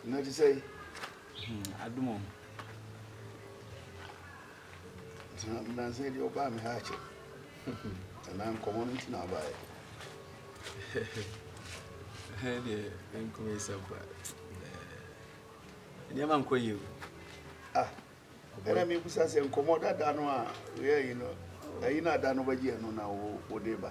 na te sɛ adom o nansa deɛ ɔbaa me ha akyɛ anaa nkɔmmɔ no nti na abaeɛ deɛ ɛnkɔmɛ sɛ ba nneɛma nkɔ yie o ah ɛna mebusa sɛ nkɔmmɔ dada no a woyɛ yi no ayi no ada no bɛgyeɛ no na wode ba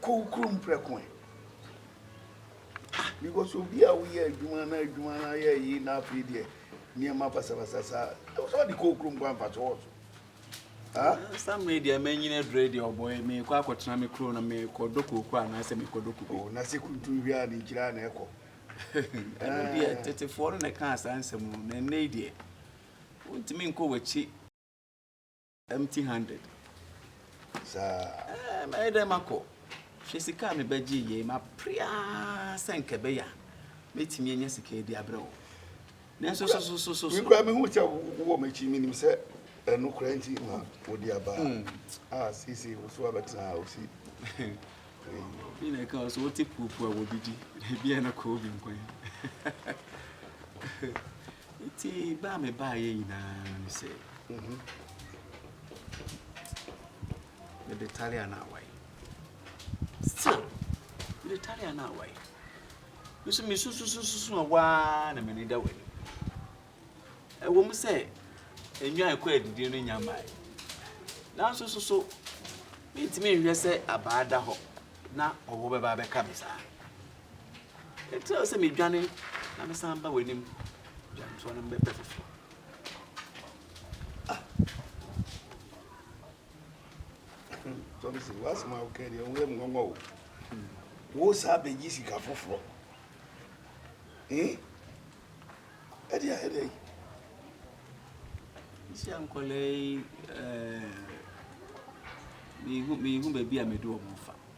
Kow kurom prɛko ɛ. Ah because obi a woyɛ adwuma na adwuma no ayɛ yie na afei deɛ nneɛma basabasa saa ɛwɔ sɛ ɔde kow kurom kwan fa so wɔ so. samre deɛ manyini adurɛ deɛ ɔbɔɛ mekɔ akɔtena me kuro no mekɔdɔ kooko anaasɛ mekɔdɔ kube oh, na sɛ kuntum hwɛ a ne nkyira na ɛkɔ ɛno deɛ eh. tetefoɔ no na ɛkaa saa nsɛm no na ɛnnɛ yi deɛ wontumi nkɔ w'akyi Empty handed saa. Ɛɛ eh, mɛyɛ dɛ makɔ. Hwɛ sika a mebɛgye yei mapere ara sɛ nka ɛbɛyɛ a mɛtumi anya sika yi de abrɛ wo. Nanso sosososo. Mekura mehu sɛ wowɔ m'akyi menim sɛ ɛno kora nti na wode aba hmm. a seesei wo so abɛtena a wosi obi na ɛka so wote puopua wɔ bi di na ebi a na kɔɔ bi nkwan Enti bɛ a mebaeɛ nyinaa ne sɛ, Monhu, mede Talia no awae. Still, mede Talia no awae. Me nso mesususususu a waa na m'ani da w'ani. Ɛwɔ mu sɛ nnwan kɔ adidie no nya mmae. Nanso so so mentumi nhwɛ sɛ abaa da hɔ na ɔwɔ bɛba abɛka me saa. Enti ɛsɛ sɛ midwane na mesan ba w'anim dwantoa no bɛpɛ foforɔ. Ah. Thompson, w'asɛm a wokae deɛ ɛho yɛ me nwanwa o. Wo saa bɛgye sika foforɔ. Ɛde ayɛ dɛ. Nsi ankɔla yi, mehu baabi a mede wɔn fa.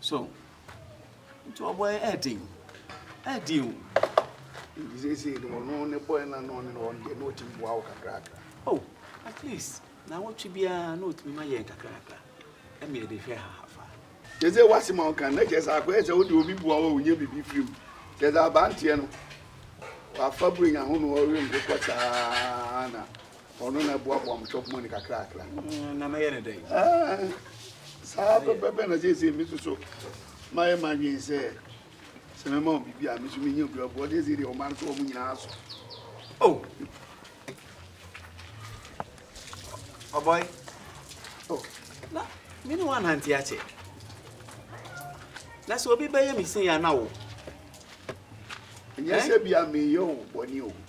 So nti ɔbɔ yɛ ɛɛden ɛɛden o. Nti seesei no ɔno ne bɔyɛ na na ɔne no ɔno deɛ na ɔtumi boa wo kakrakra. Oh at least na wɔtwe biara na ɔtumi ma yɛn kakrakra ɛma yɛde hwɛ ha afa. Kyerɛ sɛ wase ma ɔka na kyerɛ sɛ akɔyɛ sɛ wode obi boa wɔ wonya biribi firi mu kyerɛ sɛ abanteɛ no wafa burenya ho no ɔrenkokɔ saa na Ɔno na ɛboaboa mo shop money kakrakra. Mm, na mɛyɛ ne dɛn? Eh, saa pɛpɛpɛ na sɛsɛ me so so mayɛ madwen sɛ sɛ mɛma wo biribi a me so menya bi aboɔ sɛsɛ deɛ ɔma no so wɔ mo nyinaa so. Oh. Oh boy. Oh. Na me ne wanante akyɛ. Na sɛ obi bɛyɛ me sei a na wo. Ɛnyɛ sɛ bia meyɛ wo bɔne o.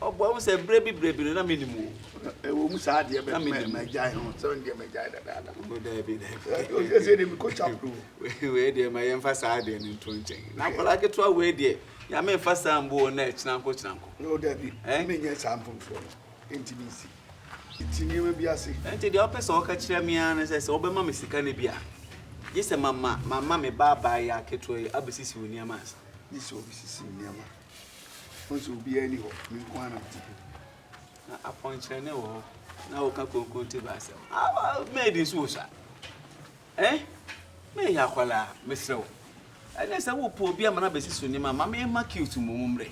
Ɔbua mu sɛ, Berɛ bi, berɛ bi no, na mennim wo. Ɛwɔ mu saa deɛ, na mennim wo. Magyae ho, sɛ ɔno deɛ magyae dadaada. Ɔno daabi, daabi. Ɔsɛ sɛ deɛ mekɔ chapel o. Wei deɛ ma yɛmfa saa deɛ no nto nkyɛn. Na akwadaa ketewa wei deɛ, Nyame mfa saa mmu wo nnɛ, kyenanko kyenanko. O daabi, menyɛ saa mfomsoɔ no, enti mensi ti nneɛma bi ase. Enti deɛ wopɛ sɛ woka kyerɛ me ara ne sɛ, sɛ wobɛma me sika no bi a, gye sɛ mama, mama me baa baa yi ara ketewa yi abɛsisi wo nneɛma ansa. Gye sɛ ɔbɛsisi me nneɛma. Nso obiara ni hɔ, me nko ara na mete ha. Na apɔnkyerɛne wɔ hɔ na woka kronkron te ba asɛm. Awa maid nso wɔ sa. Eh? Me yɛ akwala, mesrɛ wo. Ɛne sɛ wo po obi ama na besi so nima, ma me ma cute mo mo mre.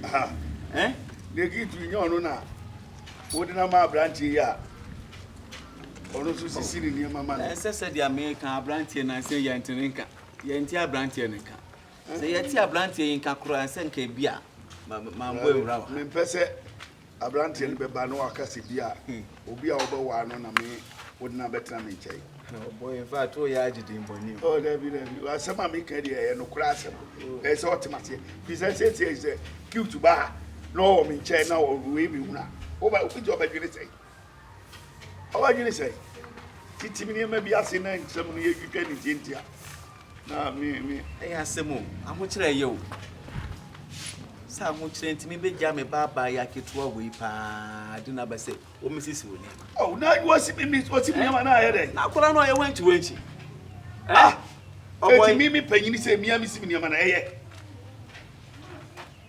Aha. Eh? Ne cute nyɛ ɔno na wo de na ma abrantie ya. Ɔno so sisi ne nneɛma ma no. Ɛsɛ sɛ dia me ka abrantie na sɛ yɛ ntene nka. Yɛ ntie abrantie ne ka. Sɛ yɛte abranteɛ yi nka koraa sɛ nka ebi a mambɔ awura wɔ ha. Mempɛ sɛ abranteɛ no bɛba na waka sɛ bi a obi a wobɛwaa no na me wode no abɛtena me nkyɛn. Ɔbɔ in fact woyɛ agye din bɔne o. Oh dabi dabi asɛm a meka deɛ ɛyɛ nokorɛ asɛm ɛyɛ sɛ ɔte maseɛ firi sɛ sɛsɛ sɛ cute baa na ɔwɔ me nkyɛn na ɔwei mehunu a wobɛgye ɔbɛdwene sɛn. Ɔbadwene sɛ titim nneɛma bi ase na nsɛm no yɛtwitwa ne ntiantia. Na me me ɛyɛ asɛm o, ahokyerɛ yɛ o. Sɛ ahokyerɛ nti mebɛgya me baabaa yɛ aketewa wei paa de no aba sɛ wɔmɛsisi wo nneɛma. Oh, na wɔsi mi mi wɔsi mi nneɛma na ayɛ dɛ. Na akora no ɔyɛ wankyi wankyi. Ah, eti mi mi panyin sɛ mi a mi si mi nneɛma na ɛyɛ.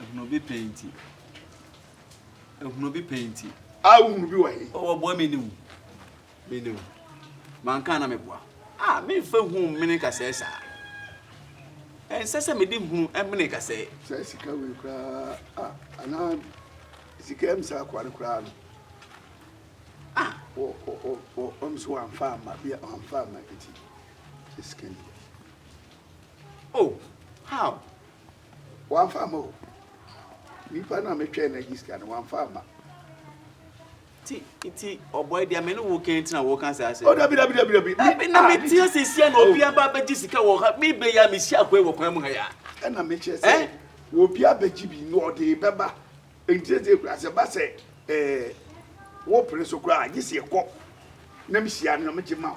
Ehunu bi pɛ nti. Ehunu bi pɛ nti. A wohunu bi wɔ he? O wɔboa me niw. Me niw. Manka na meboa. A memfa hu mmene kasɛɛ saa. Ɛnsɛ sɛ mede hunu mmene kasɛɛ. Sɛ sika wei koraa anaa sika am saa akoa no koraa no. A o o o o ɔm so wamfa ama bi wamfa ama nti. Sɛ sika ni. Oh how Wamfa amma o. Nipa no a me twɛn no agye sika no wamfa amma. Ti ti ɔbɔ ɛdi ame ne wo kɛn ti na wo kan saa sɛ. O dabi dabi dabi dabi. Dabi na me ti ase sia na obi aba abɛgye sika wɔ ha mi bɛ ya mi si akɔɛ wɔ kwan mu ha ya. Ɛna me kyerɛ sɛ eh? obi abɛgye bi na ɔde bɛba ntiɛsɛ ekura sɛ ba sɛ ɛɛ wo pere so kura agye si ɛkɔ na me hyia no na me gye ma o.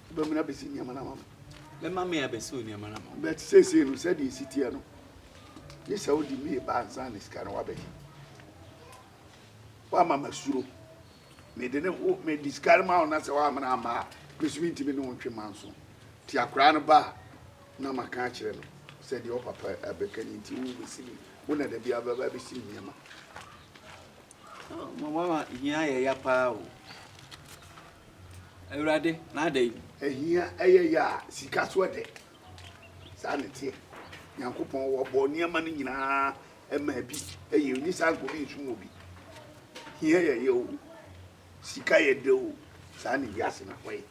Wobɛmene abɛsi nneɛma no ama me. Mɛma me abɛsi nneɛma no ama me. But seesei no sɛdeɛ ɛsi teɛ no, gye sɛ wode me ba ansa na sika no wabɛgye. Woama masuro. Mede ne ho mede sika no ma wo na sɛ woamene amma a, mesumi ntumi ne wo ntwe manso. Nti akwaraa no ba a, na maka akyerɛ no sɛ deɛ ɔpapa abɛka ni nti wobɛsi me, wo na da biara bɛba abɛsi me nneɛma. Oh mo mama hia yɛ ya paa o. Awurade na ada yi. Ahia ɛyɛ ya a sika so ɛdɛ saa na ɛteɛ nyankopɔn wɔ bɔ nneɛma no nyinaa ɛma ɛbi ɛyɛ ɔni saa nka ɔbi nsum ɔbi hia yɛ ya o sika yɛ dɛ o saa na wiase no akɔ yɛ.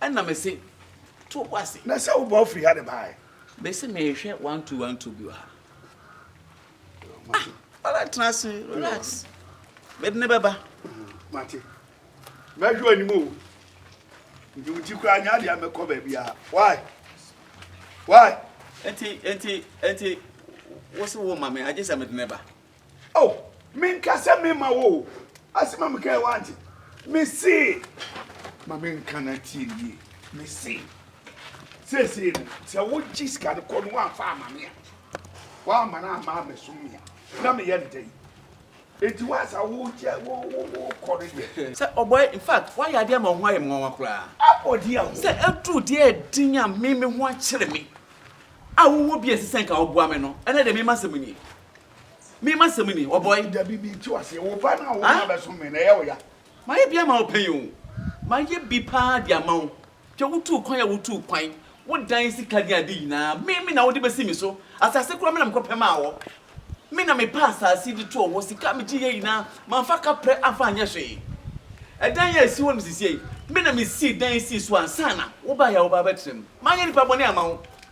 Ɛna me se to wo ase. Na sɛ wobɔ firi ha de baeɛ. Me se mehwɛ one two one two bi wɔ ha. Ah, ɔlɛ tena ase relax. Mede ne bɛba. Mate. Mɛhwɛ anim o. Nti wo ti koraa nya deɛ mɛkɔ baabi a. Why? Why? Enti enti enti wo se wo ma me agye sɛ mede ne ba. O, menka sɛ memma wo o, asɛm a mekae woante, mese, ma menka na tie no yie, mese, seesei no, sɛ wogye sika no kɔ no woamfa ama me a, woamma no amma ammɛsom me a, na meyɛ no dɛn? Enti wo a saa wogye, wo, wo, wokɔ no deɛ. Sɛ ɔbɔeɛ, in fact, woayɛ adeɛ ama wo ho ayɛ me nwanwa koraa. Abɔdeɛ a wo. Sɛ aduru deɛ a ɛde Nyame, me ho akyere me, a wowɔ bi a ɛsɛ sɛ nka woboa me no, ɛnnɛ deɛ mema asɛm nie. Me ma sɛm ni, ɔbɔe. Dabi bi ti wase, wo ba na wo ma ah? bɛso me na ɛyɛ wo ya. Mayɛ bi ama wo pɛn o. Mayɛ bi paa de ama wo. Hwɛ wotuu kwan a wotuu kwan, wodan sika ne ade nyinaa, me me na wode bɛsi me so. Asase koraa me na mekɔpɛ maa wɔ. Me na mepɛ asase de too hɔ, sika a megye yɛ nyinaa, mamfa kaprɛ amfa anyɛ hwee. Ɛdan a ɛsi hɔ no sisiei, me na mesii dan sii so ansa na wobaeɛ a wobaa bɛtena mu. Mayɛ nipa bɔne ama wo.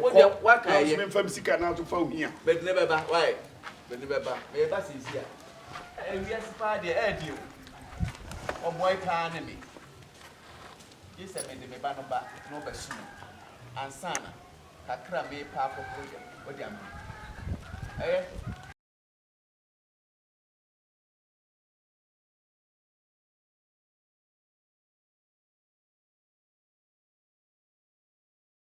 Wo deɛ waka ɛyɛ. Ɛɛ kɔ na sika na ato fa ohia. Bɛde ne bɛba why bɛde ne bɛba mɛɛba sɛsi a ɛɛ wiase paa deɛ ɛɛ deɛ o ɔboae paa ne me gye sɛ mede me ba no ba na ɔbɛ so mu ansana kakra mɛɛ paa kɔ kɔ deɛ ɔde ama me ɛɛ.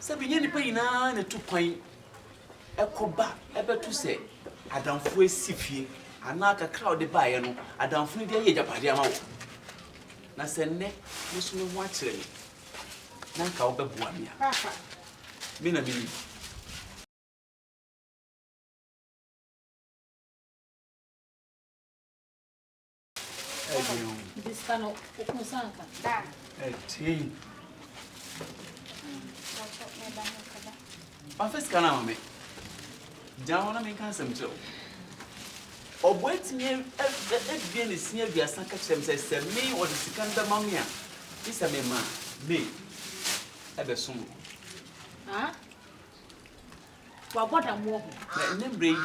Sɛ bi nyɛ nnipa nyinaa na ɛtu kwan ɛkɔ ba ɛbɛto sɛ adamfo asi fie anaa kakra a ɔde baeɛ no adamfo no de ayɛ agyapadeɛ ama wo na sɛ nnɛ me so me ho akyerɛ me na nka wobɛboa me a me na menim wafa sika no ama me gyina hɔ na menka nsɛm kyerɛ wo ɔboa atumi abie ne sin aduasa ka kyerɛ m sɛ sɛ me ɔde sika no bɛma me a gye sɛ mema me ɛbɛsom wabɔ damoɔ ho na ɛnɛ mmerɛ yi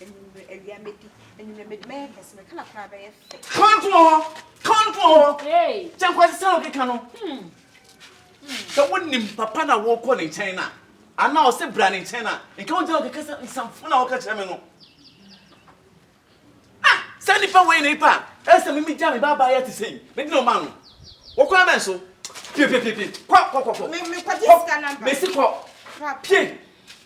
Anwummere, awia mɛdi. Anwummere mɛdi, mɛyɛ kɛse, me kala koraa bɛyɛ fɛ. Kɔnfo wɔ hɔ, kɔnfo wɔ hɔ. Kyɛ nkwasi sɛ ɔkeka no. Sɛ wonim papa na wokɔ ne nkyɛn no a, anaa ɔse bra ne nkyɛn no a, nka wogyina hɔ keka sɛ nsamfo na woka kyerɛ me no. Ah, saa nipa wei na nipa a ɛsɛ me megya me ba abaayɛ te sɛn, mede na ɔma no. Wɔ kwan bɛn so? Pie, pie, pie, pie. Kɔ, kɔ, kɔ, kɔ. Mekɔgye sika namba. Mesi kɔ. Pie.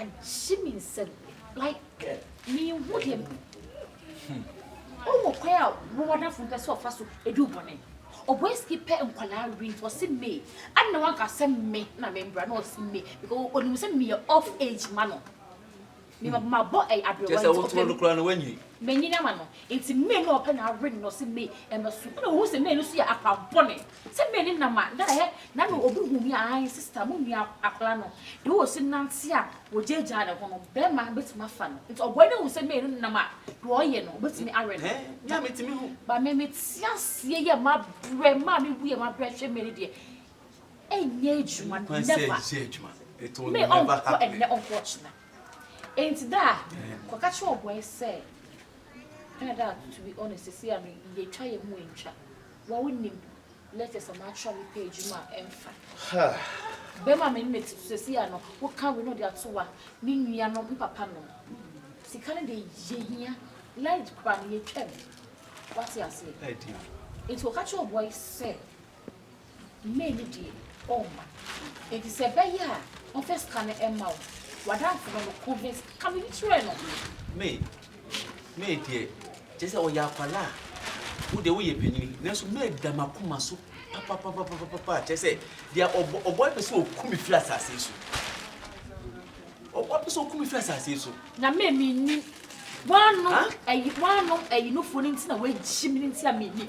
agye me nsam like menhu deɛ ɔwɔ kwan a wɔwadafo mpɛ sɛ ɔfa so ɛdu bɔne ɔbɔ ski pɛ nkwadaa win ɔse me ana wanka sɛ me na membra na ɔse me because ɔnim sɛ meyɛ off age ma no Me mmaboma bɔ ɛyɛ aberewa nti ɔpɛ me. Kyerɛ sɛ wotoro no koraa no wanyini. Manyini ama no nti May no a ɔpɛ na awe no na ɔse May ɛna su ɛna ohu sɛ May no so yɛ akwampɔne sɛ May ne nam a na ɛhɛ na na obi hu me a ae sister mo nua akwadaa no deɛ ɔsi nante a ɔgyaagyaa ne ho no bɛɛma bɛtumi afa no nti ɔbɔe no hu sɛ May no nam a deɛ ɔyɛ no ɔbɛtumi awe no ba me me tia seɛ yɛ mabrɛ maa me wu yɛ mabrɛ hwɛ May no deɛ ɛnyɛ adwuma no never me ɔnkɔ ɛnɛ ɔnkɔ ɔkyena enti da a kɔka kyerɛ ɔbɔɛ sɛ ɛna da to be honest sisi a no yɛtwa yɛ ho ntwa wa wonim letters a matwerɛ me pɛ adwuma a ɛmfa bɛma me ne te sisi a no woka we no de ato wa ne nua no mpapa no sika no de yɛhia light kora no yɛtwam wate aseɛ enti ɔka kyerɛ ɔbɔɛ sɛ May no deɛ ɔmma. Enti sɛ ɛbɛyɛ a ɔmfa sika no mma wo. W'adamfo no no, ko he, ka biribi kyerɛ no. May, May deɛ, kyerɛ sɛ ɔyɛ akwadaa. Wo deɛ woyɛ panyini. Nanso May da m'akoma so papapapapapa. Kyerɛ sɛ, deɛ ɔbɔ, ɔbɔ pɛ sɛ ɔku me firi asase yi so. Ɔbɔ pɛ sɛ ɔku me firi asase yi so. Na May mennim. W'ano, ayi, w'ano ayinufoɔ no nti na wɔagyi me no nti a mennim.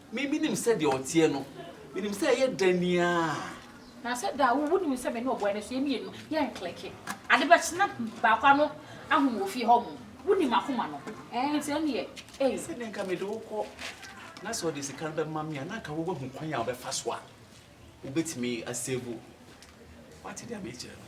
Me, menim sɛdeɛ ɔteɛ no. Menim sɛ ɛyɛ da ni aa. Na sɛ da a, wo, wonim sɛ me ne ɔboa no so, yɛn mmienu, yɛnkleke. Ade bɛkye na baako ano ahum wɔ fie hɔ mo. Wonim m'akoma no. Ɛɛ, nti ɛnneɛ, ei. Sɛdeɛ nka mede wo kɔ, na sɛ ɔde sika no bɛma me a, na nka woahu kwan a wobɛfa so a wobɛtumi asevu. Woate deɛ merekyerɛ no?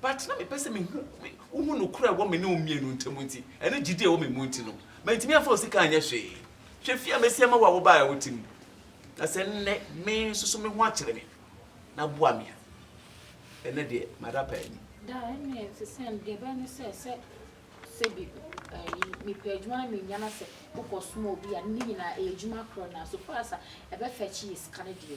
But na mepɛ sɛ mehu wohu nokorɛ a ɛwɔ me ne wo mmienu ntam nti, ɛne gyidie a ɛwɔ me mu nti no, mantumi amfa wo sika anyɛ hwee. Hwɛ fie a masi ama wo a wobaeɛ a wote mu. Na sɛ nnɛ me nso so me ho akyere me na boa me a, ɛnnɛ deɛ mada paa ni. Daa ɛnneɛ ɛte sɛn? Deɛ ɛbɛyɛ ne sɛ, sɛ sɛbi ayi, mepɛ adwuma na mennya na sɛ wokɔsoma obi a, ne nyinaa ɛyɛ adwuma korɔ na so far as a ɛbɛfɛkye yɛ sika no deɛ,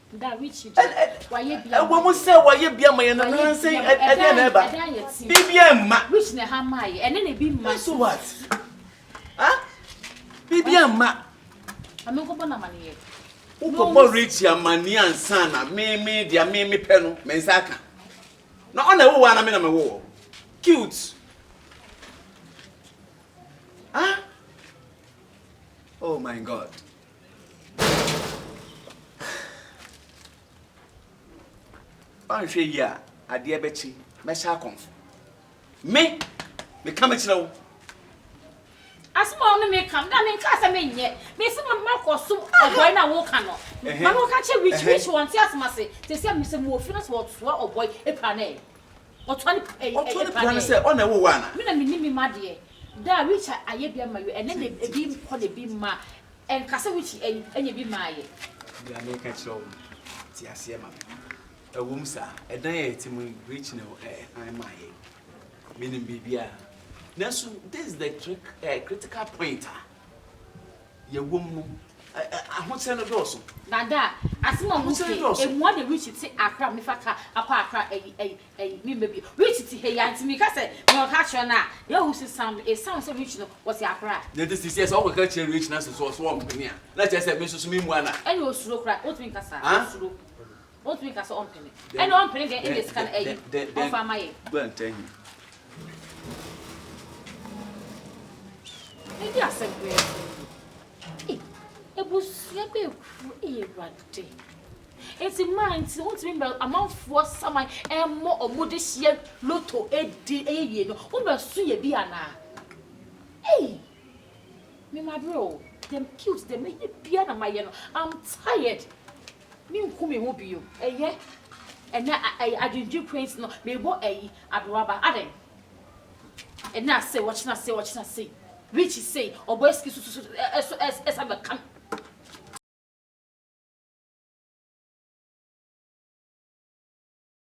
That Richie deɛ, wayɛ bi ama yɛn. Ɛwɔ mu sɛ wayɛ bi ama yɛn no, nansa yi, ɛdeɛn na ɛba? Biribiara mma. Rich na ɛha maa yɛ, ɛne na ebi mma. So what? Ha? Biribiara mma. Ame nkɔbɔ no amanneɛ. Wokɔbɔ Richie amanneɛ ansa na me me deɛ me me pɛ no, me nsa aka. Na ɔna ɛwowɔ a na me na mewowɔ. Cute. Ah? Oh my God. Anhwɛ yie a, adeɛ bɛkye. Mɛhyɛ akɔmfo. Me! Meka me kyerɛ wo. Asɛm a ɔne me ka no, na menkaa sɛ menyɛ. Mese ma makɔsom ɔbɔe no a woka no. Ma no nka nkyerɛ Rich. Rich wɔnte asɛm ase. Te sɛ me sɛ mewɔ fie na sɛ wɔsoa ɔbɔe pra no ɛ? Ɔtoa ne papa ɛyɛ paa dɛɛ. Ɔtoa ne papa no sɛ ɔna ɛwɔ wɔ ana. Me na me nim me ma deɛ. Daa Richard ayɛ bi ama yo ɛnɛ na ebi kɔ na ebi mma ɛnka sɛ Richie ɛyi ɛna ebi maa yɛ. Nea me ka kyerɛ wo no te aseɛ ma me. Ɛwɔ mu saa ɛdan a yɛte mu yi Richie na ɛhan maa yɛ. Me nim biribiara. Nanso this is the critical point a yɛwɔ mu no, ahosɛe no dɔɔso. Dada, asɛm a woka yi, ɛmmoa deɛ Richie te Accra mefa car akɔ Accra ayi ayi ayi memmɛ bio. Richie te ha yi ara nti meka sɛ nea ɔka kyerɛ no a, deɛ ɔhu sɛ sound no, it sound sɛ Richie no ɔte Accra. Deɛ nti sisi sɛ wokɔka kyerɛ Richie na sɛ ɔso ɔmpene a, na kyerɛ sɛ me nso so memmua no a. Ɛnna ɔsuro koraa, wontumi nka saa, ɔsuro. Ontumi nka sɛ ɔmpene. Ɛna ɔmpene deɛ ɛna sika no ayi ɔmfa ama yɛn. Go and tell him. Ɛdi asɛm bɛɛ. Ee, ebusua bɛɛ kuru ee awurade. Eti maa nti wontumi mbɛ amanfoɔ saman ɛmɔ ɔmo de hyɛ loto edi ɛyɛ wie no wombɛ so yɛ bi anaa. Ee, me ma bere o. Dem cute dem ɛyɛ bia na ma yɛ no. I'm tired. Menku me ho bio. Ɛyɛ ɛnɛ ɛyɛ adwendwen quaint no mebɔ ɛyi adoraba adɛn ɛnɛ asei ɔkyena sei ɔkyena sei rich sei ɔbɔ ɛsiki so so ɛso ɛs ɛsa bɛka me.